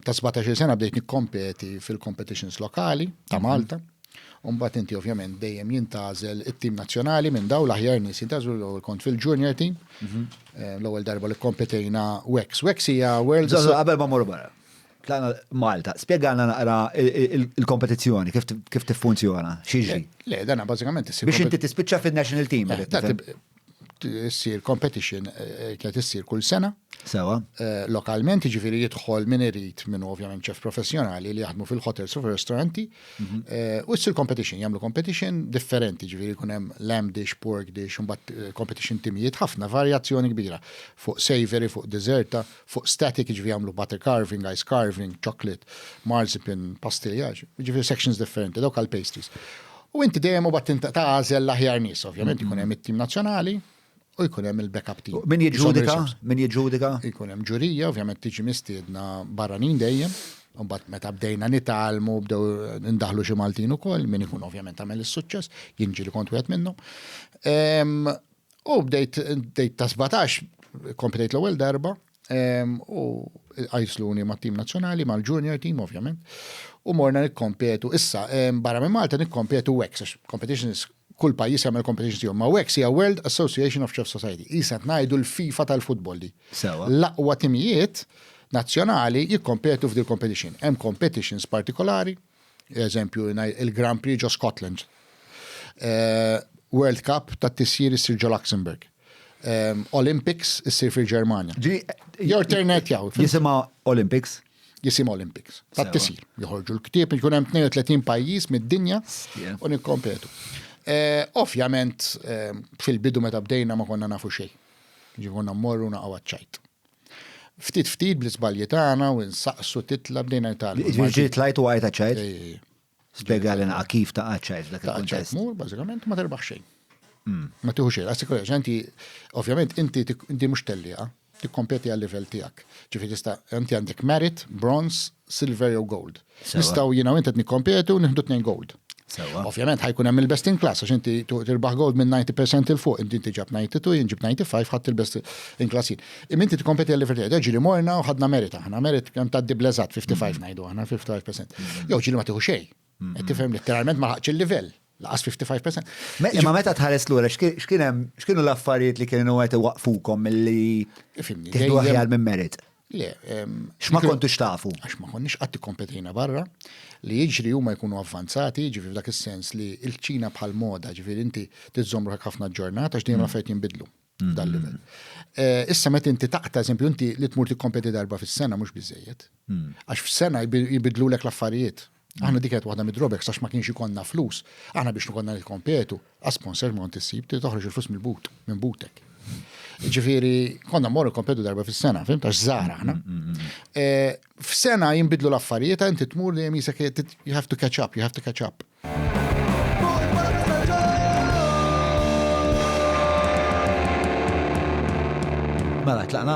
Ta' sbatax-il sena bdejt nikkompeti fil-competitions lokali ta' mhm. Malta. U mbagħad inti ovvjament dejjem jintgħażel it-tim nazzjonali minn daw l-aħjar nies jintgħażlu l-ewwel kont fil-junior team. Mhm. Eh, l-ewwel darba li kompetejna Wex. Wex hija World. Qabel ma morru barra. Tlana Malta, spiegħana naqra il-kompetizzjoni, kif tiffunzjona, xieġi. Le, dana bazzikament Biex inti tispiċċa fil-national team. Eh, issir competition eh, kienet issir kull sena. Sewa. Eh, lokalment, ġifiri jidħol minn irid minn ovvjament ċef professjonali li jaħdmu fil-hotels u fil-ristoranti. Mhm. Eh, u issir competition, jamlu competition differenti, ġifiri kunem lamb dish, pork dish, un bat competition timijiet, ħafna varjazzjoni kbira fuq savory, fuq deserta, fuq static, jiġifieri jagħmlu butter carving, ice carving, chocolate, marzipan, pastilja, jiġifieri sections differenti, dawk għal pastries. U inti dejjem u battin ta' għażel l-aħjar nies, ovvjament mm-hmm. jkun hemm it-tim nazzjonali, u jkun hemm il-backup team. Min jiġġudika? Min jiġġudika? Jkun hemm ġurija, ovvjament tiġi mistiedna barranin dejjem. Umbat meta bdejna nitalmu, bdew ndaħlu xi Maltin ukoll, min ikun ovvjament għamel is-suċċess, jinġi li kont wieħed minnhom. Ehm, U bdejt bdejt ta' 17, komplejt l-ewwel darba, u għajsluni ma' tim nazzjonali, ma' l-junior team ovvjament, u morna nikkompetu. Issa, barra minn Malta nikkompetu WEX, għax competitions kull pajjiż jagħmel competitions tiegħu, ma' WEX hija World Association of Chefs Society. Isa qed ngħidu l-FIFA tal-futbol di. L-aqwa timijiet nazzjonali jikkompetu f'dil-competition. Hemm competitions partikolari, Eżempju, il-Grand Prix ġo Scotland. Eh, World Cup ta' tisjir issir ġo Luxembourg. Eh, Olympics issir fil-Ġermanja. Jor ternet jaw. Jisima Olympics? Jisim Olympics. Ta' tisjir. Joħorġu l-ktib, jkun hemm 32 pajjiż mid-dinja u nikkompetu. Eh, ovvjament, fil-bidu meta bdejna ma konna nafu xejn. Ġi konna mmorru naqgħu ċajt. Ftit ftit bl-iżbalji tagħna u nsaqsu titla' bdejna nitgħallmu. Ġifieri ġiet tlajt u għajt għaċ-ċajt? Spjega lilna kif ta' għaċ-ċajt f'dak il-kuntest. Mur bażikament ma terbaħ xejn. Hmm. Ma tieħu xejn, għassi kollox, inti, ovvjament, inti inti mhux tellieqa, tikkompeti għal livell tiegħek. Ġifi tista' inti għandek merit, bronze, silver jew gold. Nistgħu jiena inti nikkompetu nieħdu tnejn gold. Ovvjament ħajkun hemm il-best in class għax inti tirbaħ gold minn 90% il fuq, inti inti ġab 92, jien ġib 95 ħadd il-best in class jien. Imma inti tikkompeti għal livell tiegħek, ġieli morna u ħadna merit aħna, merit kemm tgħaddi bleżat 55 ngħidu aħna 55%. Jew ġieli ma tieħu xejn. Qed tifhem letteralment ma ħaqx il-livell. Laqas 55%. Imma meta tħares lura x'kien hemm x'kienu l-affarijiet li kienu qed iwaqfukom milli tieħdu aħjar minn merit? Le. X'ma kontux tafu? Għax ma konniex qatt ikkompetina barra li jiġri huma jkunu avvanzati, ġifieri f'dak is-sens li l-Ċina bħal moda, ġifieri inti tiżżomm ruħek ħafna ġurnata għax dejjem affarijiet jinbidlu. f'dan livell. Eh, issa meta inti taqta' eżempju inti li tmur tikkompeti darba fis-sena mhux biżejjed. Hmm. Għax f'sena jibidlulek l-affarijiet. Hmm. Aħna dik qed waħda mid-drobek sax ma kienx ikonna flus. Aħna biex nkonna nikkompetu, għasponsor ma kont issib trid toħroġ il-flus mill-but, minn butek. Ġifieri konna mmorru kompetu darba fis-sena, fim tax żara aħna. Hmm, eh, f'sena jinbidlu l-affarijiet inti tmur dejjem jisek you have to catch up, you have to catch up. Mela tlaqna?